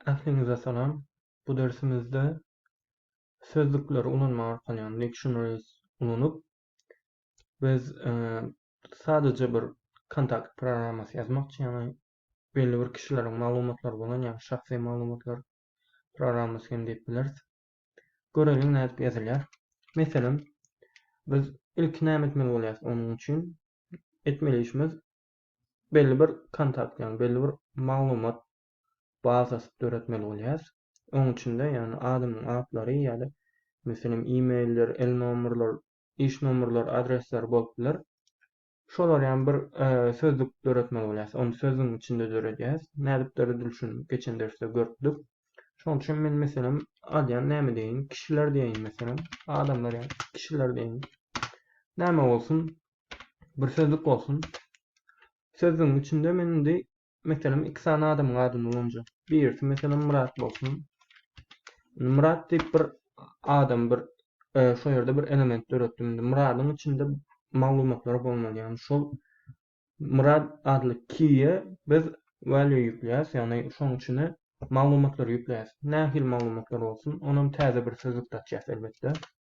Ähliňize salam. Bu dersimizde sözlükleri ulanmak arkaly, ýagny dictionaries ulanyp, biz sadaja bir kontakt programmasy ýazmakçy, ýagny belli bir kişileriň maglumatlary bolan, ýagny şahsy maglumatlar programmasy hem diýip bileris. Göreliň nädip ýazylýar. Meselem, biz ilki näme etmeli bolýarys onuň üçin? Etmeli işimiz belli bir kontakt, ýagny belli bir maglumat bazasy döretmeli bolýarys. Oň içinde, ýagny adamyň atlary ýa-da meselem e-mailler, el nomerler, iş nomerler, adresler bolup biler. Şolar ýaly bir e, sözlük döretmeli bolýarys. Ony sözlügiň içinde döredýäris. Nädip döredilişini geçen dersde görüpdik. Şonuň üçin men meselem adýan näme diýin? Kişiler diýin meselem. Adamlar ýa kişiler diýin. Näme bolsun? bir sözlük bolsun. Sözlügiň içinde men indi meselem iki sany adamyň adyny ulanjak. Birisi meselem Murat bolsun. Murat diýip bir adam bir e, şu ýerde bir element döretdim. Indi Muradyň içinde maglumatlar bolmaly. Ýagny şol Murat adly kiýe biz value ýükleýäs, ýagny şoň içine maglumatlary ýükleýäs. Nähili maglumatlar bolsun? Onam täze bir sözlük açýas elbetde.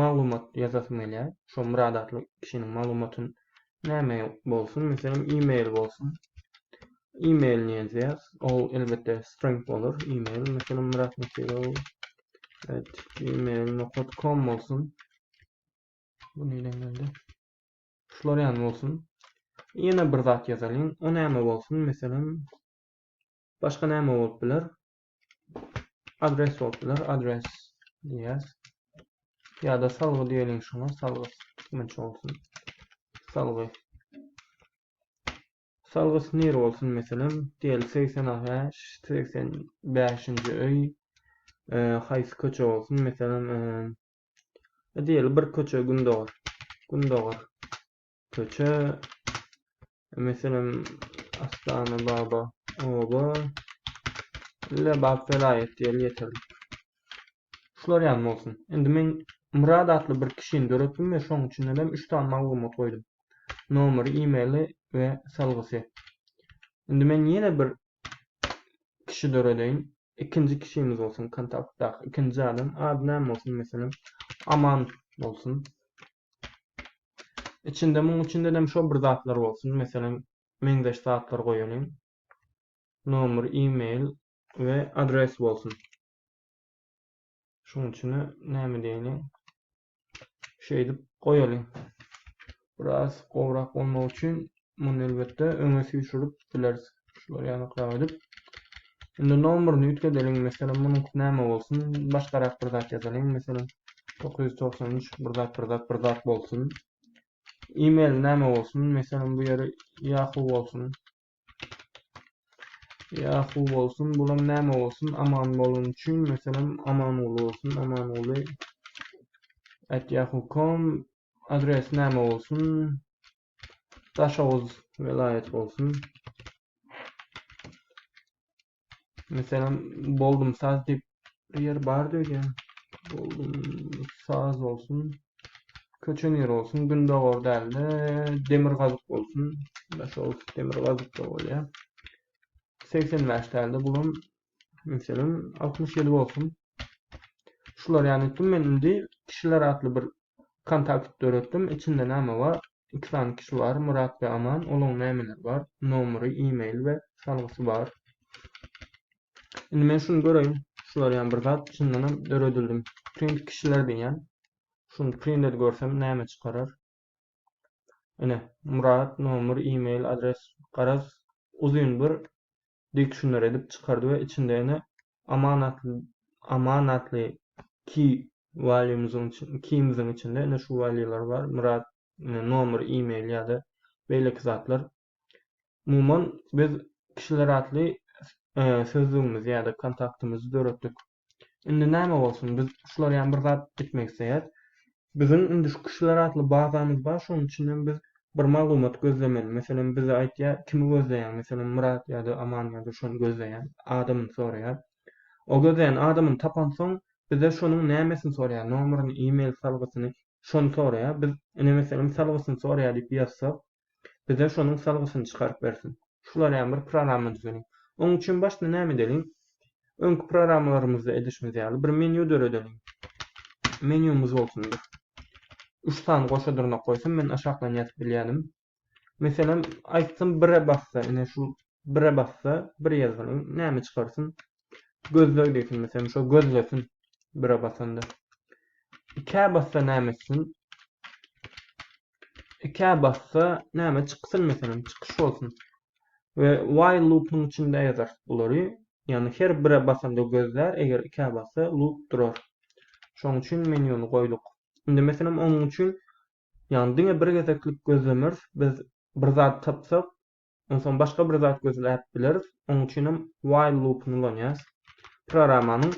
maglumat ýazasym gelýär. Şo bir adatly kişiniň maglumatyn näme bolsun, meselem, e-mail bolsun. E-mailini ýazýas. Ol elbetde string bolar. E-mail meselem Myrat Nekirow at gmail nokat kom bolsun. Bu neden geldi? Şular ýan bolsun. Ýene bir zat ýazalyň. O näme bolsun? Meselem, başga näme bolup biler? Adres bolupdyr, adres diýýäs. Ýa-da salgy diýeliň şuňa, salgy kiminçe bolsun. Salgy. Salgy nir bolsun meselem, diýeli 85, 85-nji öý, e, haýsy köçe bolsun, meselem, e, diýeli bir köçe gündogar. Gündogar. köçe meselem Astana Baba oba ile Bab welaýat diýeli ýeterlik. Şular ýaly bolsun. Indi men Murad atly bir kişini döretdim we şoň içinden hem 3 sany maglumat goýdum. Nomeri, e-maili we salgysy. Indi men ýene bir kişi döredeýin. Ikinji kişimiz bolsun kontaktdaky ikinji adam. Ady näme bolsun meselem Aman bolsun. Içinde muň içindenem şo bir zatlar bolsun, meselem, meňzeş zatlar goýalyň. Nomer, e-mail we adres bolsun. Şuň üçine näme diýeni şeýdip goýalyň. Biraz gowrak bolmagy üçin Muny elbetde öňe süýşürip bileris. Şular ýanykrak edip. Indi nomeryny üýtgedeliň. Meselem, munuňky näme bolsun? Başgarak bir zat ýazalyň. Meselem, 993 bir zat, bir zat, bir zat bolsun. E-mail näme bolsun? Meselem, bu ýeri Yahoo bolsun. Yahoo bolsun. Bulam näme bolsun? Aman bolun üçin, meselem, Amanguly bolsun. Amanguly at yahoo.com adres näme bolsun? Daşoguz welaýaty bolsun. Meselem, boldum saz diýip bir ýer bar diýýän. Boldum saz bolsun. Köçe nir bolsun, gündogar dälde, demirgazyk bolsun. Daşoguz demirgazykda bolýar. 85 dälde, bulam Meselem, 60 ýyl bolsun. Şular ýany etdim men indi kişiler atly bir kontakt döretdim. Içinde näme bar? Iki sany kişi bar, Murat we Aman. Olaryň nämeleri bar? Nomeri, e-mail we salgysy bar. Indi men şuny göreýin. Şular ýany bir zat içinden hem döredildim. Print kişiler diýýän. Şuny print edip görsem näme çykarar? Ine, Murat, nomer, e-mail, adres, garaz, uzyn bir dykşunlar edip çykardy we içinde ene amanatly ki walýumyzyň kimizin içinde ene şu walýular bar myrat nomer email ýada beýleki zatlar umuman biz kişiler atly sözdügimizi ýada kontaktymyzy döretdik Indi näme bolsun, biz şular ýaly bir zat etmek isleýäs. Biziň indi şu kişiler atly bazamyz bar, şonuň üçin hem biz bir maglumat gözlemeli. Meselem, bize aýdýar, kimi gözleýäň, meselem, Myrat ýa-da Aman ýa-da şony gözleýän adamyny soraýar. O gözleýän adamyny tapansoň, bize şonuň nämesini soraýar, nomerini, e-mail salgysyny, şony soraýar. Biz ine, meselem, salgysyny soraýar diýip ýazsak, Bize şonuň salgysyny çykaryp bersin. Şularýam bir programma düzeliň. Oň üçin başda näme edeliň? Öňki programmalarymyzda edişimiz ýaly bir menýu döredeliň. Menýumyz bolsun bir. Üç sany goşa dyrnak goýsam men aşakdan ýazyp bilýädim. Meselem, aýtsam bire bassa ine şu bire bassa bir ýazgyny näme çykarsyn? Gözleg diýsin meselem şo gözlesin bire basanda. Ikä bassa näme etsin? Ikä bassa näme çyksyn meselem çykyş bolsun. We while loopyň içinde ýazarys bulary. Ýagny her bire basanda gözlär, eger ikä bassa loop durar. Şoň üçin menýuny goýduk. Indi meselem onuň üçin ýagny diňe bir gezeklik gözlemeris, biz bir zat tapsak, Onsoň başga bir zat gözläp bileris. Onuň üçin hem while loop-yny ulanýarys. Programmanyň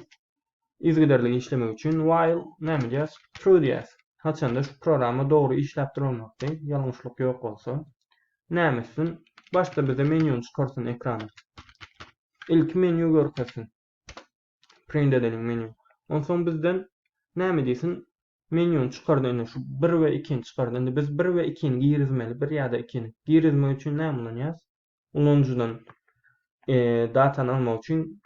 yzygiderli işlemegi üçin while näme diýýäs? True diýýäs. Haçanda şu programma dogry işläp durmakdy, ýalňyşlyk ýok bolsa. Näme etsin? Başda bize menýuny çykarsyn ekrana. Ilki menýu görkezsin. Print edeliň menýu. Onsoň bizden näme diýsin? Menýuny çykardy indi şu bir we ikini çykardy. Indi biz bir we ikini girizmeli, bir ýa-da ikini. Girizmek üçin näme ulanýarys? Ulanyjydan datany almak üçin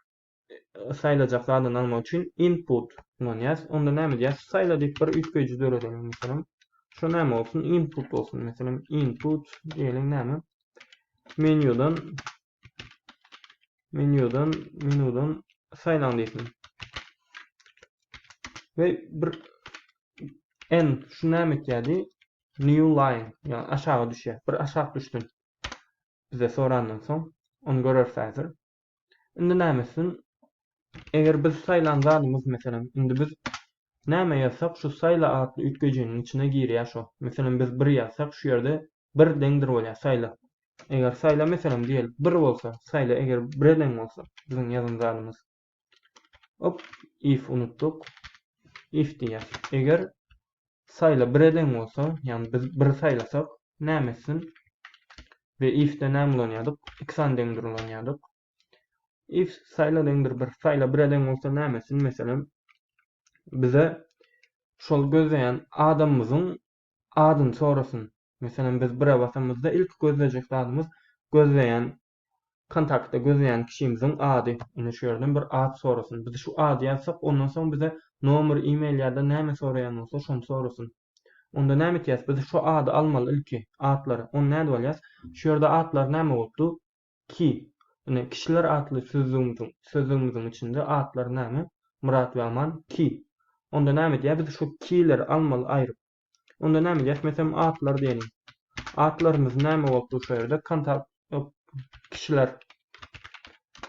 saýlajak zadyny almak üçin input ulanýarys. Onda näme diýýäs? Saýla diýip bir üýtgeýji döredeliň meselem. Şu näme bolsun? Input bolsun meselem. Input diýeliň näme? Menýudan Menýudan, menudan saýlaň diýsin. We bir en şu näme etýärdi? New line, ýa aşaga düşýär. Bir aşak düşdün. Bize sorandan soň, onu göreris häzir. Indi näme etsin? Eger biz saýlan zadymyz, meselem, indi biz näme ýazsak, şu saýla atly üýtgejiniň içine girýär şu. Meselem, biz bir ýazsak, şu ýerde bir deňdir bolýar saýla eger saýla meselem diýelik bir bolsa saýla eger bire deň bolsa biziň ýazan zadymyz op if unutduk if diýýär eger saýla bire deň bolsa, ýagny biz bir saýlasak, näme etsin? We if-de näme ulanýardyk? Iki san deňdir ulanýardyk. If saýla deňdir bir, saýla bire deň bolsa näme etsin? Meselem, bize şol gözleýän adamymyzyň adyny sorasyn. Meselem, biz bire basamyzda ilki gözlejek zadymyz gözleýän kontaktda gözleýän kişimiziň ady. Ine şu ýerden bir at sorasyn. Biz şu ady ýazsak, ondan soň bize nomer, e-mail ýa-da näme soraýan bolsa şony sorasyn. Onda näme etýäs? Biz şu ady almaly ilki, atlary. Onda nädip alýas? Şu ýerde atlar näme bolup dur? Ki. Ine, kişiler atly sözlügimiziň sözlügimiziň içinde atlar näme? Myrat we Aman, ki. Onda näme edýär? Biz şu ki-leri almaly aýryp. Onda näme edýäs? Meselem, atlar diýeliň. Atlarymyz näme bolupdyr şu ýerde? Kontak, ýok, kişiler.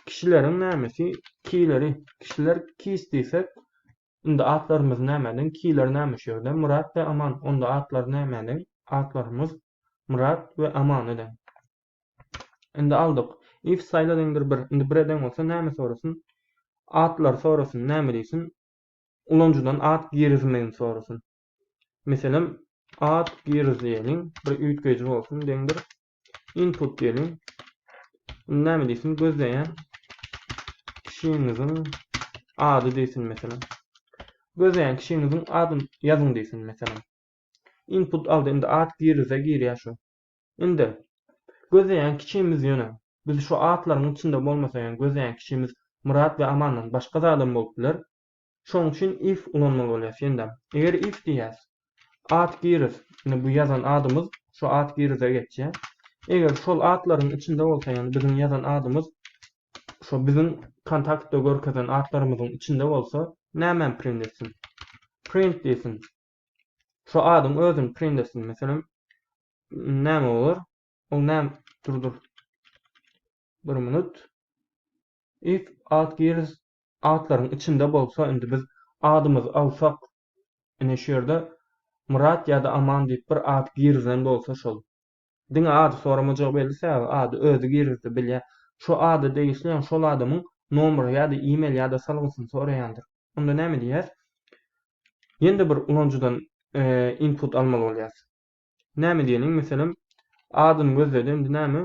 Kişileriň nämesi? Ki-leri. Kişiler kis diýsek, indi atlarymyz nämäniň? Ki-ler näme şu ýerde? Myrat we Aman. Onda atlar nämäniň? Atlarymyz Myrat we Amanyň. Indi aldyk. If style deňdir bir. Indi bir eden bolsa näme sorasyn? Adlary sorasyn, näme diýsin? Ulanyjydan ad girizmegini sorasyn. Meselem, ad giriz diýeliň, bir üýtgeýji bolsun, deňdir input diýeliň. Indi näme diýsin? Gözleýän kişiňiziň ady diýsin meselem. Gözleýän kişiňiziň adyny ýazyň diýsin meselem. Input aldy, indi ad girize girýär şu. Indi, gözleýän kiçimiz ýöne, biz şu atlaryň içinde bolmasa ýöne gözleýän kiçimiz Myrat we Amandan başga zadam bolup biler. Şoň üçin if ulanmaly bolýas ýene-de. Eger if diýýäs, at giris, indi bu ýazan adymyz şu at girise geçýä. Eger şol atlaryň içinde bolsa ýöne biziň ýazan adymyz şo biziň kontaktda görkezen atlarymyzyň içinde bolsa, nämem print etsin? Print diýsin. Şu adyň özüni print etsin. Meselem, näme bolar? Ol näme? Dur, dur. Bir minut. If ad girs adlaryň içinde bolsa, indi biz adymyzy alsak, ine şu ýerde Myrat ýa-da Aman diýip bir ad girzen bolsa şol. Diňe ady soramajak belli sebäbi ady özi girizdi bilýä şu ady degişliýaň şol adamyň nomry ýada email ýada salgysyny soraýandyr onda näme diýýäs ýende bir ulanyjydan input almaly bolýas näme diýeliň meselem adyny gözledi indi näme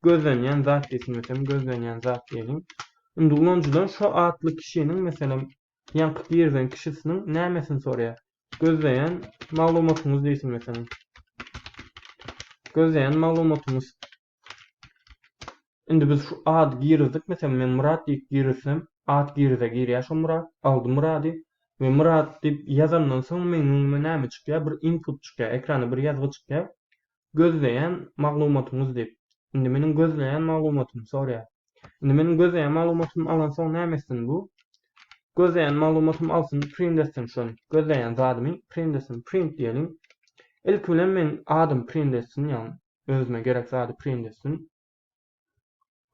gözlenýän zat diýsin meselem gözlenýän zat diýeliň indi ulanyjydan şo atly kişiniň meselem ýaňky girzen kişisiniň nämesini sorýar. Gözleýän maglumatyňyz diýsin meselem. Gözleýän maglumatymyz. Indi biz şu ady girizdik meselem men Myrat diýip girizsem at girize girýär şu Myrat aldy Myrady we Myrat diýip ýazandan soň meň öňüme näme çykýar bir input çykýar ekrana bir ýazgy çykýar gözleýän maglumatyňyz diýip. Indi meniň gözleýän maglumatymy soraýar. Indi meniň gözleýän maglumatymy alansoň näme etsin bu? Gözleýän maglumatymy alsyn, print etsin şony. Gözleýän zadymy print etsin. Print diýeliň. Ilki bilen meniň adymy print etsin, ýagny özüme gerek zady print etsin.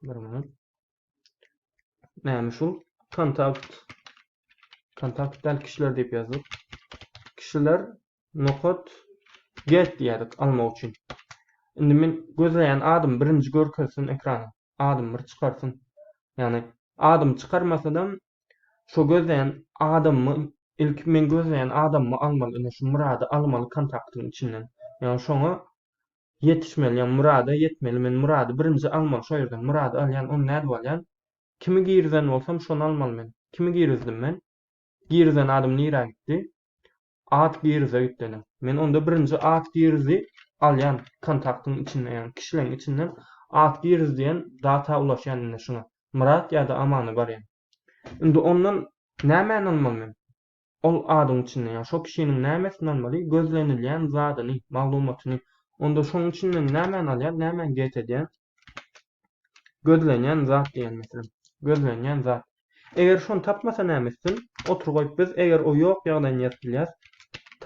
Bir minut. Näme şu? Kontakt. Kontakt däl kişiler diýip ýazdyk. Kişiler nokat get diýerdik almak üçin. Indi men gözleýän adym birinji görkezsin ekrana. Adym bir çykarsyn. Ýani adym çykarmasadam şu gözleýän adammy ilk men gözleýän adammy almaly. Indi şu Murady almaly kontaktyň içinden. Ýani şoňa Ýetişmeli ýa murada ýetmeli men murady birinji almaly şo ýerden murady alýan ony nädip alýan kimi girizen bolsam şony almaly men kimi girizdim men girizen adym nirä gitdi at girize gitdeli men onda birinji at girizi alýan kontaktyň içinde ýagny kişileň içinden at giriz diýen data ulaşýan indi şuňa myrat ýa-da amana barýan indi ondan nämäni almaly men Ol adyň içinde, ýagny şo kişiniň nämesini almaly, gözlenilýän zadyny, maglumatyny. Onda şoň içinden nämäni alýan, nämäni get edýän? Gözlenýän zat diýen meselem. Gözlenýän zat. Eger şony tapmasa näme etsin? Otur goýup biz eger o ýok ýagdaýyny ýazyp bilýäs.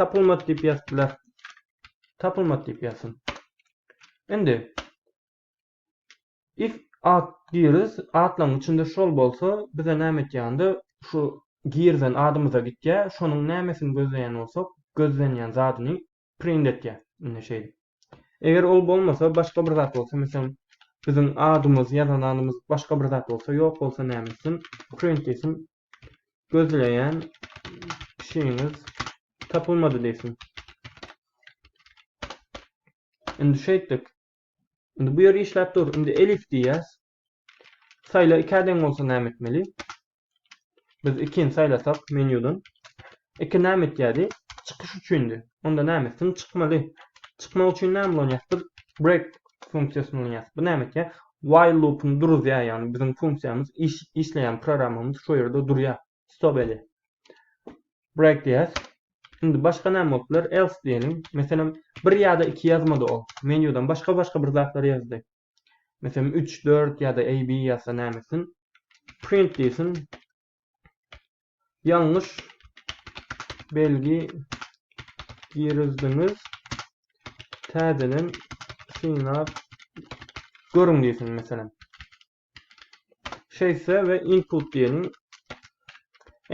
Tapylmady diýip ýazyp biler. Tapylmady diýip ýazsyn. Indi If at giris atlaň içinde şol bolsa bize näme etýände şu girizen adymyza gitýä şonuň nämesini gözleýän bolsak gözlenýän zadyny print etýä indi şeýdip eger ol bolmasa başga bir zat bolsa meselem biziň adymyz ýazan adymyz başga bir zat bolsa ýok bolsa näme etsin print diýsin gözleýän kişiňiz tapylmady diýsin indi şeýtdik Indi bu ýer işläp dur. Indi elif diýýäs. Saýla ikä deň bolsa näme etmeli? Biz ikini saýlasak menýudan. Iki näme etýärdi? Çykyş üçindi. Onda näme etsin? Çykmaly. Çykmak üçin näme ulanýas? Biz break funksiýasyny ulanýas. Bu näme etýär? While loopuny duruzýar, ýagny biziň funksiýamyz iş, işleýän programmamyz şu ýerde durýar. stop edi. Break diýýäs. Indi başga näme bolup biler? Else diýeliň. Meselem, bir ýa-da iki ýazmady ol. Menýudan başga-başga bir zatlar ýazdy. Meselem, üç, dört ýa-da AB ýazsa näme etsin? Print diýsin. Ýalňyş belgi girizdiňiz. Täzeden synap görüň diýsin meselem. Şeýtse we input diýeniň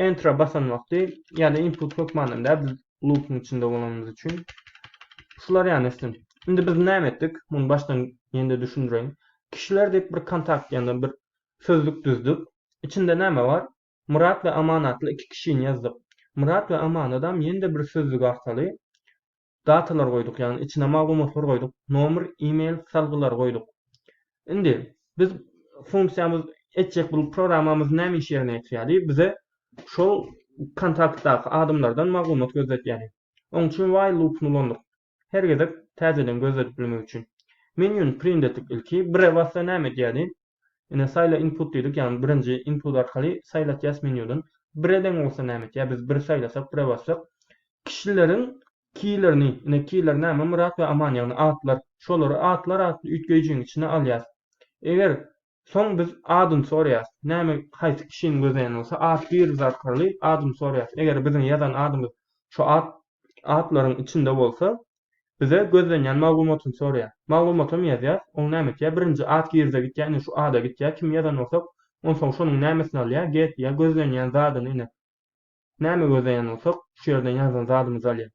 enter basan wagty, ýa-da input hökmanynda biz loopuň içinde bolanymyz üçin şular ýany etsin. Indi biz näme etdik? Muny başdan ýene-de düşündireýin. Kişiler diýip bir kontakt ýa-da bir sözlük düzdük. Içinde näme bar? Myrat we Aman atly iki kişini ýazdyk. Myrat we Amanadam ýene-de bir sözlük arkaly datalar goýduk ýagny içine maglumatlar goýduk nomer email salgylary goýduk indi biz funksiýamyz etjek bul programmamyz näme iş ýerine ýetirýärdi bize şol kontaktdaky adamlardan maglumat gözletýärdi oň üçin while loopyny ulandyk her gezek täzeden gözledip bilmek üçin menyuny print etdik ilki bire bassa näme edýärdi Ine saýla input diýdik ýagny birinji input arkaly saýlatýas menýudan. Bire deň bolsa näme etýär biz bir saýlasak bire bassak kişileriň keylerini ine keyler näme Myrat we Aman ýagny atlar şolary atlar atly üýtgeýjiň içine alýas. Eger soň biz adyny soraýas näme haýsy kişini gözleýän bolsa at bir zarkaly adyny soraýas eger biziň ýazan adymyz şu at atlaryň içinde bolsa bize gözlenýän maglumatyny soraýar. Maglumatam ýazýas, oň näme etýär, birinji at girize gitýär, ine şu ada gitýär, kimi ýazan bolsak, onsoň şonuň nämesini alýar, get diýýär, gözlenýän zadyny ine näme gözleýän bolsak, şu ýerden ýazan zadymyzy alýar.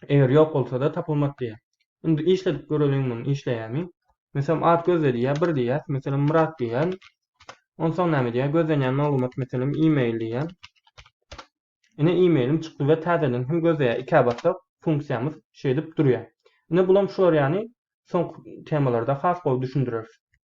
Eger ýok bolsada tapylmady diýýär. Indi işledip göreliň muny işleýärmi? Meselem at gözle diýýär, bir diýýäs, meselem Myrat diýýän. Onsoň näme diýýär, gözlenýän maglumat meselem e-mail diýýän. Ine e-mailim çykdy we täzeden hem gözleýär ikä bassak funksiýamyz şeýdip durýar. Ine bulam şular ýany soňky temalarda has gowy düşündireris.